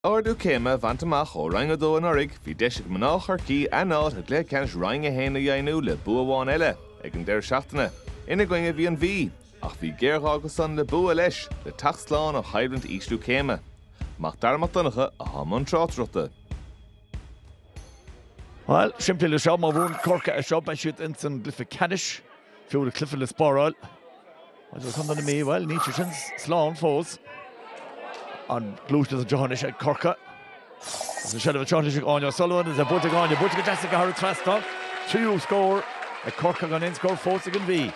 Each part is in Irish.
Tar éis ardú céime a bhaint amach ó Roinn 2 anuraidh, bhí deis ag mná Chorcaí a n-áit i gcluiche ceannais Roinn 1 a dheimhniú le bua amháin eile ag an deireadh seachtaine. Ina gcoinne a bhí an Mhí, ach bhí géarghá acu san le bua, leis, le teacht slán ó choimhlint ísliú céime. Mac Dara Mac Donncha a bhí i mbun tráchtaireachta. Bhuel, simplí leis seo, má bhuann Corcaigh seo beidh siad ins an gcluiche ceannais. Fiú le cluiche le spáráil agus Contae na Mí, bhuel, níl siad sin slán fós. An ghluaiseacht anseo anois ag Corcaigh. Is an seilbh anseo anois ag Áine O'Sullivan, is é buailte ag Áine, buailte go deas aici thar an trasnán. Tríú scór ag Corcaigh gan aon scór fós ag an Mí.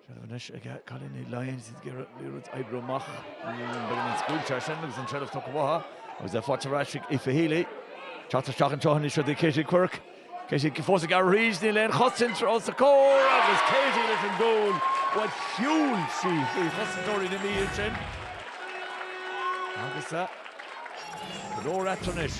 Seo anois ag cailíní Laighean, iad ag iarraidh oibriú amach. Beagáinín sciorrach ansin agus an tseilbh tugtha uatha agus é faighte ar ais ag Aoife Healy. Teacht isteach anseo anois ag Katie Quirke. Katie fós ag gearradh léi, níl aon chosaint os a comhair agus Katie leis an gcúl. Bhuel, shiúil sí thrí chosantóirí na Mí ansin agus go leor eatarthu anois.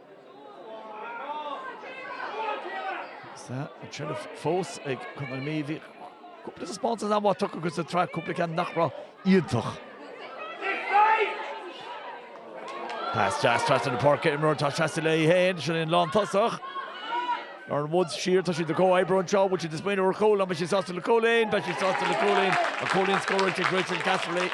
Sea, an tseilbh fós ag Contae na Mí. Bhí cúpla taispeántas an-mhaith tugtha acu sa tsraith, cúpla ceann nach raibh iontach. Pas deas trasna na páirce imreoir tá seasta léi féin, sin é an lántosach. Lauren Woods siar, tá siad ag comhoibriú anseo, bhfuil siad ag smaoineamh ar chúl, an mbeidh siad sásta le cúilín, beidh siad sásta le cúilín, an cúilín scóráilte ag Rachel Casserly.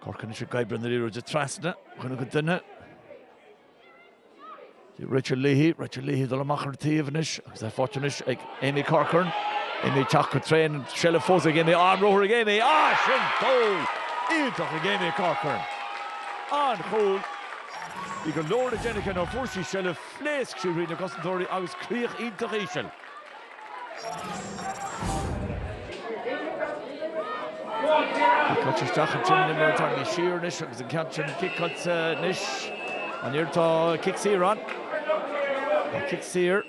Corcaigh anois ag ag oibriú na liathróide trasna ó dhuine go duine. Rachel Leahy, Rachel Leahy dul amach ar taobh anois agus í faighte anois ag Amy Corcoran. Amy teacht go tréan seilbh fós ag Amy. Á an ruathar ag Amy! Á sin cúl iontach ag Amy Corcoran! Á an chúl! Bhí go leor le déanamh aici nuair a, fuair sí seilbh, phléasc sí thrí na cosantóirí agus críoch iontach íseal. Cic caite isteach ag Jim Nimmo, tarraingíodh siar anois agus an ceann sin cic caite anois. An bhfuil, tá cic saor ann. Tá cic saor.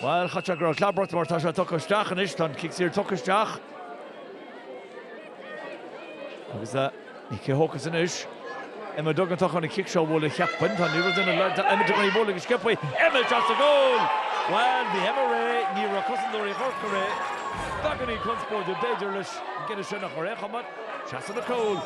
Bhuel, chaithfeadh sé go raibh clabaireacht mar tá sé tugtha isteach anois, tá an cic saor tugtha isteach. Agus Ní cithfhócas anois. Emma Duggan atá chun an chic seo a bhualadh cheapfainn. Tá an liathróid i lámha Emma Duggan í buailte go sciobtha ag Emma isteach sa gcúl! Bhuel, bhí Emma réidh, ní raibh cosantóirí Chorcaí réidh. Beagáinín conspóide b'fhéidir leis an gcinneadh sin ach ar aon chuma, seasann an cúl.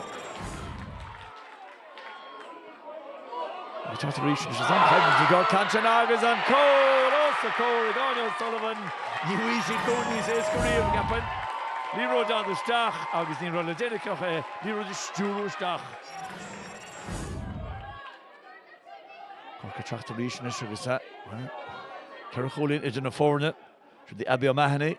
Caint agus an cúl os a comhair ag Áine O'Sullivan. Ní bhfaighidh siad cúl níos éasca riamh, cheapfainn. Ní raibh dada isteach agus ní raibh le déanamh acu ach í a stiúradh isteach. Corcaigh ag teacht arís anois agus ceithre chúilín idir na foirne. Sin do Abbie O'Mahony.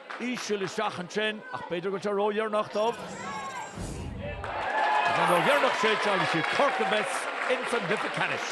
íseal isteach ansin, ach b'fhéidir go bhfuil sé ródheireanach dóibh. Tá sé ródheireanach séidte agus iad Corcaigh a bheas ins an gcluiche ceannais.